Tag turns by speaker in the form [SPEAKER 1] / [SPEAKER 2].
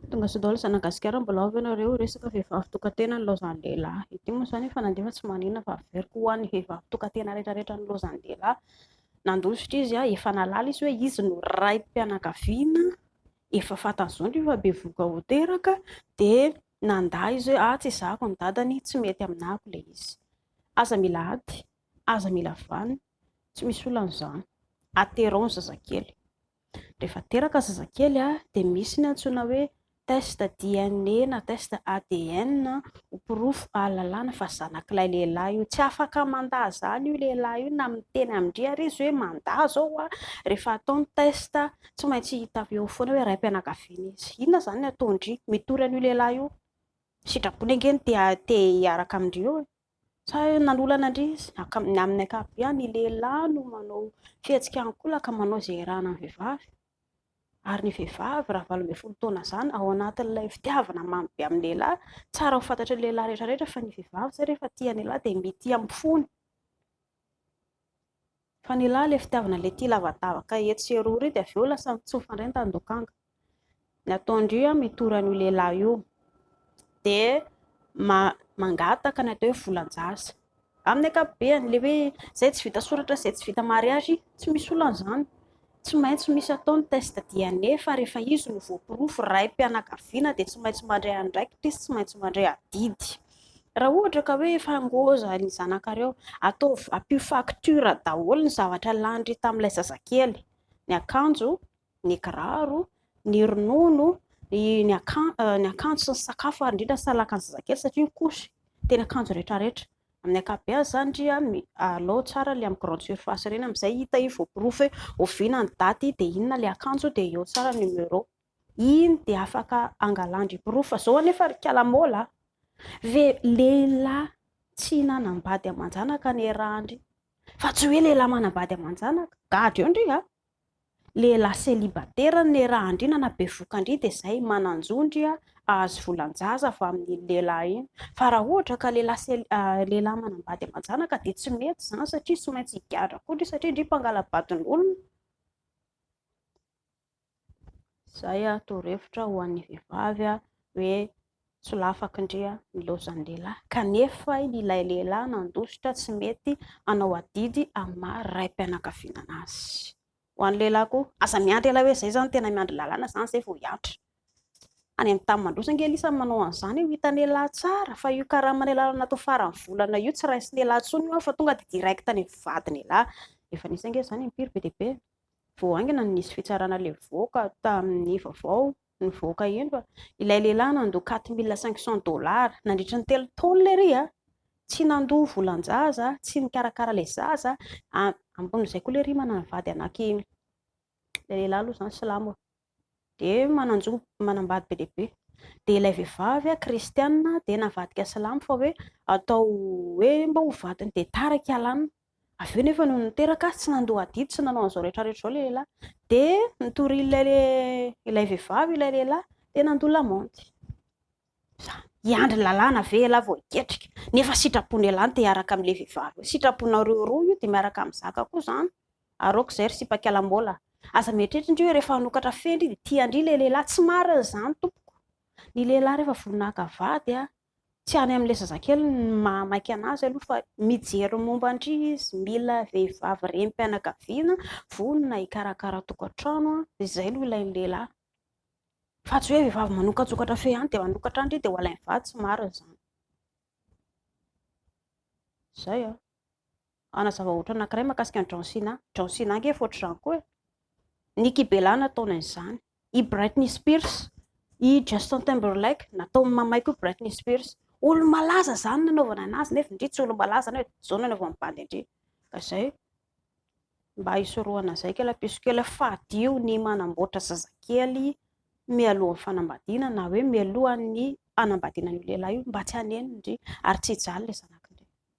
[SPEAKER 1] Tonga sao daholo zana gasikara mbola ao ve nareo resaka vehivavy tokatena ny laozan'ny lehilahy ity moa zany efa nandefa tsy manina fa averiko ho an'ny vehivavy tokatena rehetra rehetra ny laozan'ny lehilahy nandositra izy aho efa nalala izy hoe izy no raim-pianakaviana efa fantany zao ny efa be voka ho teraka de nanda izy hoe ah tsy zako ny dadany tsy mety aminako le izy aza mila ady aza mila vanina tsy misy olona an'izany aterao ny zazakely Rehefa teraka zazakely dia misy ny antsoina hoe test DNA na test ADN ho porofo ahalalana fa zanak'ilay lehilahy io. Tsy afaka mandà izany io lehilahy io na miteny amin-dry àry izy hoe mandà izao aho. Rehefa atao ny test tsy maintsy hita eo foana hoe raim-pianakaviana izy. Inona izany ny ataon-dry? Mitory an'io lehilahy io. Sitrapo ny ange ny te hiaraka amin-dry eo e! Sa nanolana ndry izy? Ny amin'ny ankapobeny ny lehilahy no manao fihetsika ankolaka manao izay irahana ny vehivavy. Ary ny vehivavy raha valo ambin'ny folo taona izany ao anatin'ilay fitiavana mamy be amin'ny lehilahy, tsara ho fantatry ny lehilahy rehetra rehetra fa ny vehivavy izay rehefa tia ny lehilahy dia mitia amin'ny fony. Fa ny lahy ilay fitiavana ilay tia lavadavaka etsy sy eroa ireo dia avy eo lasa mitsofa indray ny tandokanga. Ny ataon-dry io mitory an'io lehilahy io. Dia mangataka ny atao hoe volan-jaza. Amin'ny ankapobeny, ilay hoe izay tsy vita soratra, izay tsy vita mariazy, tsy misy olana izany. Tsy maintsy misy atao ny test DNA fa rehefa izy no voaporofo raim-pianakaviana dia tsy maintsy mandray andraikitra izy, tsy maintsy mandray adidy. Raha ohatra ka hoe efa ngôza ny zanakareo, ataovy, ampio facture daholo ny zavatra lanin-dry tamin'ilay zazakely, ny akanjo, ny kiraro, ny ronono, ny akanjo sy ny sakafo ary indrindra ny salakan'ny zazakely satria ny couche dia ny akanjo rehetrarehetra. Amin'ny ankapobeny izany ndry a, alao tsara ilay amin'ny grande surface ireny amin'izay hita hoe voaporofo hoe oviana ny daty dia inona ilay akanjo dia eo tsara ny numéro. Iny dia afaka angalan-dry porofo fa izao anefa ry kala maola a! ve lehilahy tsy nanambady aman-janaka ny eran-dry fa tsy hoe lehilahy manambady aman-janaka. Gadra eo ndry a! Lehilahy célibataire ny Nera Andriana na bevoka ndry dia zay, manan-jo ndry ahazo volan-jaza avy amin'iny lehilahy iny. Fa raha ohatra ka lehilahy lehilahy manambady aman-janaka dia tsy mety zany satria tsy maintsy higadra koa ndry satria ndry mpangala-badin'olona. Zay torohevitra ho an'ny vehivavy hoe Solafako ndry a ny laozan'ny lehilahy kanefa ilay lehilahy nandositra tsy mety hanao adidy amin'ny maha raim-pianakaviana anazy. Ho an'ny lehilahy koa, aza miandry ela hoe zay zany tena miandry lalàna zany zay vao hiantra. Any amin'ny tany mandroso ange lisany manao an'izany io hitan'ialahy tsara fa io karaman'ialahy lany natao faran'ny volana io tsy raisin'ialahy tsony io an fa tonga dia direct any amin'ny vadin'ialahy. Efa nisy ange izany impiry be dia be vao haingana no nisy fitsarana levoka tamin'ny vaovao Nivoaka eny fa ilay lehilahy nandoa quatre mille cinq cents dollars nandritra ny telo taona ery a! Tsy nandoa volan-jaza, tsy nikarakara ilay zaza, ambonin'izay koa lery manana vady anaky eny. Ilay lehilahy aloha izany silamo e. Dia manan-jo manambady be dia be. Dia ilay vehivavy kristiana dia navadika silamo fa hoe atao hoe mba ho vadiny dia tara i Kalana. Avy eo nefa nony niteraka azy tsy nandoa adidy sy nanao an'izao rehetra rehetra izao ilay lehilahy. Dia nitorin'ilay ilay vehivavy ilay lehilahy dia nandoa lamaody. Izany. Hiandry ny lalàna ve ialahy vao hiketrika? Nefa sitrapony ialahy ny te hiaraka amin'ilay vehivavy hoe sitraponareo roa io dia miaraka amin'ny zaka koa izany. Aroako izay ry sipakalambola. Aza mieritreritra indry hoe rehefa hanokatra fendry dia tia an-dry ilay lehilahy. Tsy marina izany tompoko. Ny lehilahy rehefa voninahaka vady tsy any amin'ilay zazakely ny maha maika anazy aloha fa mijery momba an-dry izy, mila vehivavy renim-pianakaviana vonona hikarakara tokantrano an, izay no ilain'ny lehilahy fa tsy hoe vehivavy manokatsokatra f'eo ihany dia manokatra an-dry dia ho alain'ny vady, tsy marina izany. Izay an. Hanazava ohatra anankiray mahakasika an'i John Cena. John Cena ange efa ohatr'izany koa e. Nikki Bella nataony an'izany. I Britney Spears, i Justin Timberlake, nataon'ny mamay koa Britney Spears. Olo-malaza izany nanaovana anazy, nefa ndry tsy olo-malaza na hoe izao no anaovan'ny bandy an-dry. Ka izay, mba hisorohana izay kela piso kela, fadio ny manamboatra zazakely mialohan'ny fanambadiana na hoe mialohan'ny hanambadiana an'io lehilahy io mba tsy haneno ndry, ary tsy hijaly ilay zanakindry.